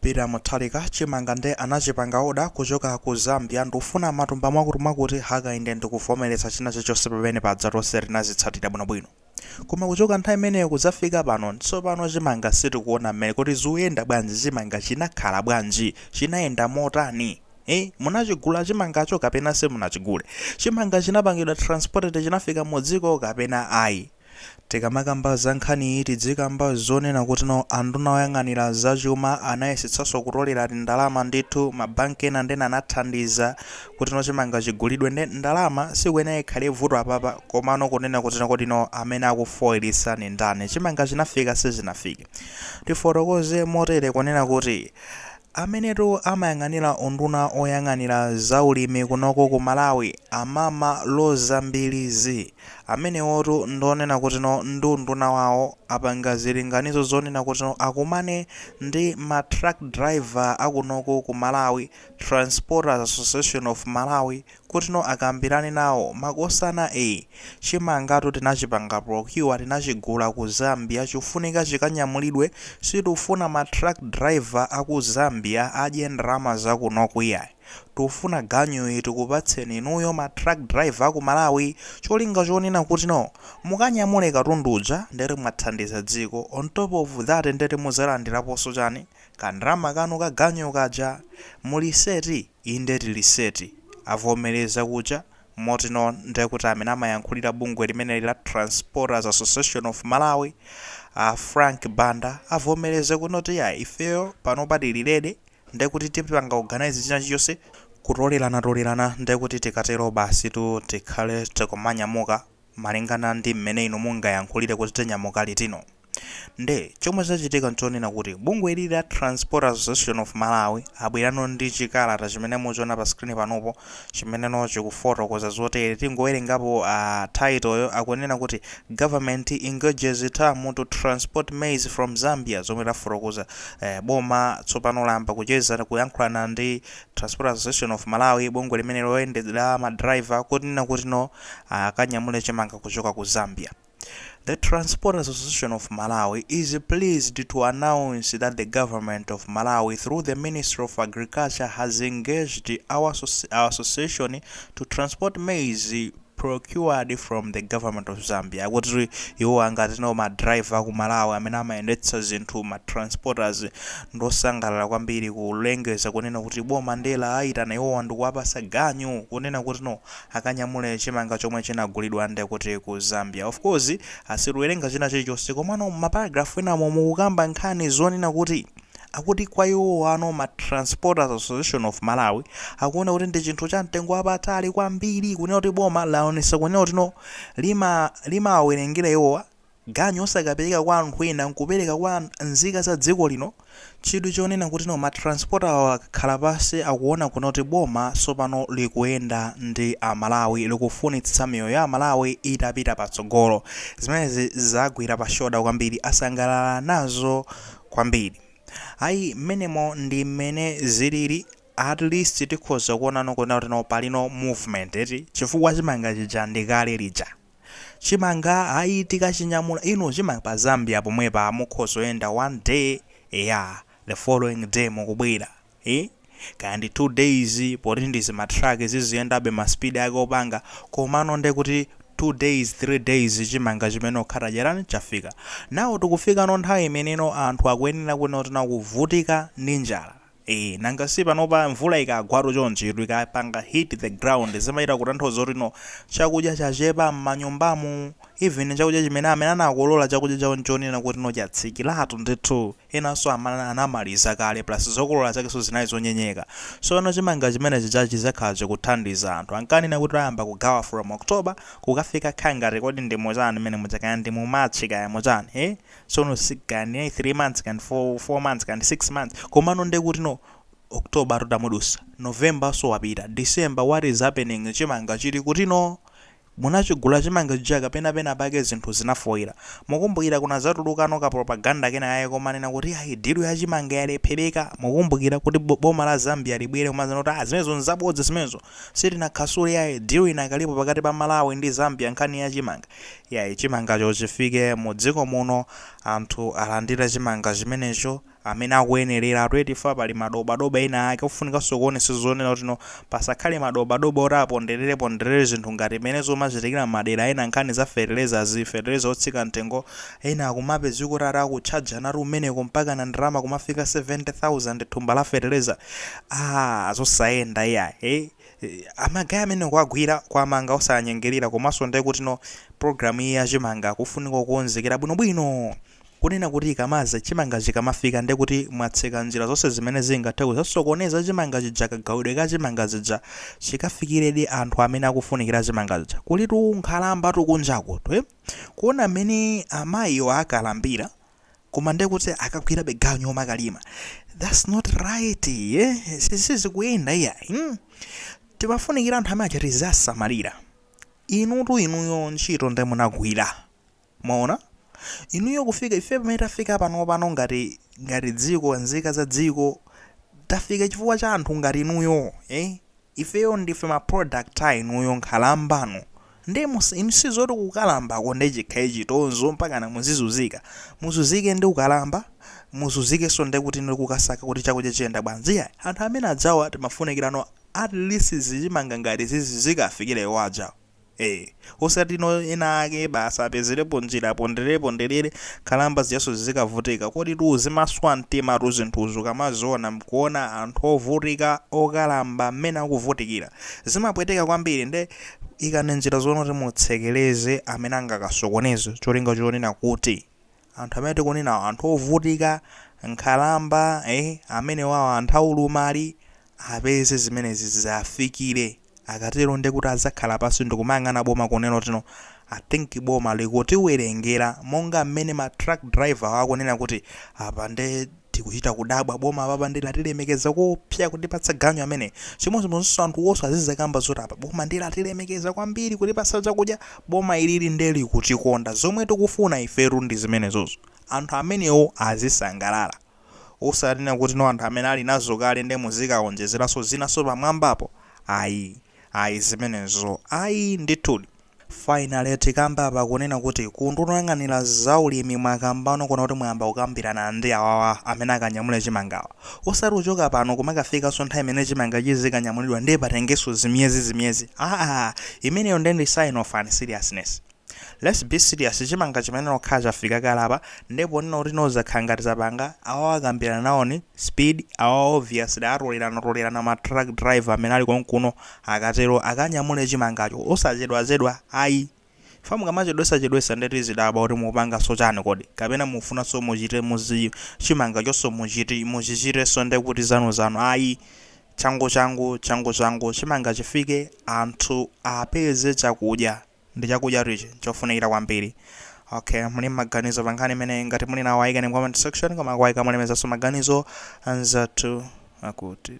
Peter Muthalika chimanga nde anachipanga order kuchoka ku Zambia ndikufuna matumba mwakuti mwakuti Hakainde ndikuvomereza china chilichonse pamene paja tonse tinazitsatira bwino bwino koma kuchoka nthawi imeneyo kudzafika pano tsopano chimanga sitikuona mmene kuti zikuyenda bwanji chimanga chinakhala bwanji chinayenda motani eh munachigula chimangacho kapena simunachigule chimanga chinapangidwa transported chinafika mu dziko kapena ayi Tikamakamba za nkhaniyi tidzikamba zonena kutino anduna oyang'anira za chuma anayesetsanso kutolera tindalama ndithu ma bank ena ndena anathandiza kutino chimanga chigulidwe nde ndalama sikuyenera ikhale vuto apapa komano kunena kutino kodino amene akufoiritsa ndi ndani chimanga chinafika sichinafike tifotokoze motere kunena kuti amenetu amayang'anira unduna oyang'anira za ulimi kunoko ku Malawi amama Roza Mbilizi. Amenewotu ndi onena kutino ndi unduna wawo apanga zilinganizo zonena kutino akumane ndi ma truck driver akunoko ku Malawi, Transporters Association of Malawi, kutino akambirane nawo makosana ee chimangatu tinachipanga procure tinachigula ku Zambia chifunika chikanyamulidwe sitifuna ma truck driver aku Zambia adye ndalama zakunoku iyayi. Tufuna ganyuyo tikupatseni inuyo ma truck driver aku Malawi cholinga chonena kutino mukanyamule katundu uja ndeti mwathandiza dziko on top of that ndeti muzalandiraponso chani? Ka ndalama kanu ka ganyu kaja. Muli set? Inde tili set. Avomereza kuja. Motino ndekuti amene amayankhulira bungwe limeneli la Transporters Association of Malawi a Frank Banda avomereza kunoti ya ifeyo panopa tili ready. Ndiye kuti tipanga organise china chilichonse kutoleranatolerana ndiye kuti tikatero basitu tikhale tikumanyamuka malingana ndi mmene inu mungayankhulire kuti tinyamuka litino. Nde chomwe chachitika nchonena kuti bungwe ili la Transporters Association of Malawi abwerano ndi chikalata chimene muchiona pa screen panopo chimeneno chikufotokoza zotere tingowerengapo a title yo akunena kuti government engages TAM to transport maize from zambia zomwe tafotokoza eh, boma tsopano layamba kucheza kuyankhulana ndi Transporters Association of Malawi bungwe limene loyendera ma driver kunena kutino akanyamule chimanga kuchoka ku zambia The Transporters Association of Malawi is pleased to announce that the Government of Malawi through the Ministry of Agriculture has engaged our association to transport maize procured from the government of Zambia kuti iwo angatino ma driver aku Malawi amene amayendetsa zinthu ma transporters ndosangalala kwambiri kulengeza kunena kuti boma nde lawayitana iwowa ndikuwapasa ganyu kunena kutino akanyamule chimanga chomwe chinagulidwa ndekuti ku Zambia of course asituwerenga china chilichonse komano mma paragraph enamo mukukamba nkhani zonena kuti akuti kwa iwowano ma Transporters Association of Malawi akuona kuti ndi chinthu cha mtengo wapatali kwambiri kunena kuti boma laonetsa kunena kuti no lima limawawerengera iwowa ganyu osakapereka kwa anthu ena nkupereka kwa nzika za dziko lino? chidwi chonena kuti no ma transporter awa akakhala pansi akuona kunena kuti boma sopano likuyenda ndi amalawi likufunitsitsa miyoyo ya amalawi itapita patsogolo zimenezi zagwira pa shoulder kwambiri asangalala nazo kwambiri ayi mmenemo ndi mmene zilili at least tikhoza kuonano kunena kuti no palino movement eti chifukwa chimanga chija ndi kale lija Chimanga ayi tikachinyamula inu chimanga pa Zambia pomwepa mukhoza kuyenda one day eya the following day mukubwera ee kaya ndi two days poti ndi zima truck ziziyendabe ma speed ake opanga komano nde kuti two days three days chimanga chimenecho chikhala chatani chafika now tikufikano nthawi imeneno anthu akuyenera kunena kuti no akuvutika ndi njala Eee nanga si panopa mvula ikagwatu chonchi tu ikapanga hit the ground zimachita kutanthauza kuti no chakudya chachepa mmanyumbamu even chakudya chimene amene anakolola chakudya chawo nchonena kuti no chatsikiratu ndithu enanso amana anamaliza kale plus zokolola zakenso zinali zonyenyeka sono chimanga chimene chija chizakhala chikuthandiza anthu ankanena kuti ayamba kugawa from October kukafika kangati kodi ndi muchani mmene muja kaya ndi mu March kaya muchani ee sono si kaya ndi 3 months kaya ndi 4, 4 months kaya ndi 6 months komano nde kuti no october tu tamudutsa novembernso wapita december what is happening chimanga chili kuti no munachigula chimanga chija kapena pena pake zinthu zinafoira mukumbukira kunazatulukano ka propaganda kena kake komanena kuti ayi deal ya chimanga yalephereka mukumbukira kuti bo- boma la zambia libwere kumazanena kuti ah zimenezo nzabodza zimenezo Sitinakhansule yayi deal inakalipo pakati pa Malawi ndi Zambia nkhani ya chimanga yayi chimangacho chifike mu dziko muno anthu alandire chimanga chimenecho amene akuyenereradi eti chifukwa pali madobadoba ena ake ofunikanso kuonetsetsa zonena kuti no pasakhale madobadoba oti aponderereponderere zinthu ngati mmene zikumachitikira mmadera ena nkhani za fertilizer-zi fertilizer otsika mtengo ena akumapezeka kuti ati akutchajanatu kumeneko mpakana ndalama kumafika 70,000 thumba la fertilizer Aaa zosayenda iyayi ama guy amene kuwagwira kuwamanga osawanyengerera komanso ndiye kutino program iyi ya chimanga kufunika kukonzekera bwinobwino kunena kuti ikamaza chimanga chikamafika ndiye kuti mwatseka njira zonse zimene zingathe kuzasokoneza chimanga chija kagawidwe ka chimanga chija chikafikiredi anthu amene akufunikira chimanga chija kulitu nkhalamba tu kunjaku tu eh. kuona mmene amayiwa akalambira koma ndekuti akagwirabe ganyu omakalima thats not right eh? sizikuyenda iya hmm? timafunikira anthu amene achite zasamalira inutu inuyo ntchito nde munagwira mwaona inuyo kufika ife pamene tafika pano pano ngati ngati dziko nzika za dziko tafika chifukwa cha anthu ngati inuyo eh? Ifeyo ndife ma product a inuyo nkhalambanu nde mus inu sizoti kukalambako nde chikhale chitonzo mpakana muzizuzika, muzuzike ndi ukalamba muzuzikenso ndekuti ndi kukasaka kuti chakudya chiyenda bwanji iyayi anthu amenewa adzawa timafunikirano at least zichimanga ngati izizi zikawafikire awo adzawo. ee osati no ena ake basi apezerepo njira aponderere ponderere nkhalamba zijaso zizikavutika koditu zimaswa mtimatu zinthuzi ukamaziona mkuona anthu ovutika okalamba mmene akuvutikira zimapweteka kwambiri nde ikani njira zonena kuti mutsekereze amene angakasokoneze cholinga chonena kuti Anthu amene tikunenawa anthu ovutika, nkhalamba ee amenewawa anthu aulumali apeze zimenezi ziafikile akatero ndekuti adzakhala pansi ndikumayang'ana boma kunena kuti no i think boma likutiwelengera monga mmene ma truck driver awa akunena kuti apa nde Tikuchita kudabwa boma apapa nde latilemekeza koopsa kutipatsa ganyu ameneyu. Chimodzimodzinso anthuwonso azizakamba zoti apa boma nde latilemekeza kwambiri kutipatsa chakudya, boma ilili nde likutikonda. Zomwe tikufuna ifetu ndi zimenezozo. Anthu amenewo azisangalala. Osati kunena kuti no anthu amene ali nazo kale nde muzikawonjezeranso zinanso pamwambapo. Ayi. Ayi zimenezo ayi ndithudi. Finally tikamba apa kunena kuti ku unduna oyang'anira za ulimi mwakambano kunena kuti mwayamba kukambirana ndi awawa amene akanyamule chimangawa. Osati kuchoka pano kumakafikanso nthawi imene chimanga chizikanyamulidwa ndiye patengenso zimiyezi zimiyezi aah imeneyo ndiye ndi sign of unseriousness. Let's be serious chimanga chimenechi chikanakhala chafika kale apa ndiye ponena kuti no zakhala ngati zapanga awawa akambirana nawoni speed awawa obviously atolelana tolelana ma truck driver amene ali konkuno Akatero akanyamule chimangacho osachedwachedwa ayi chifukwa mukamachedwesachedwesa nde tizidabwa kuti mukupanganso chani kodi kapena mukufunanso muchite muzi chimangachonso muchiti muchichitenso nde kuti zanuzanu ayi changuchangu changuchangu chimanga chifike anthu apeze chakudya ndi chakudyatu ichi nchofunikira kwambiri ok muli ndi maganizo pa nkhani imeneyi ngati muli nawo ayikeni mu comment section koma kuwayika mulemezanso maganizo anzathu akuti.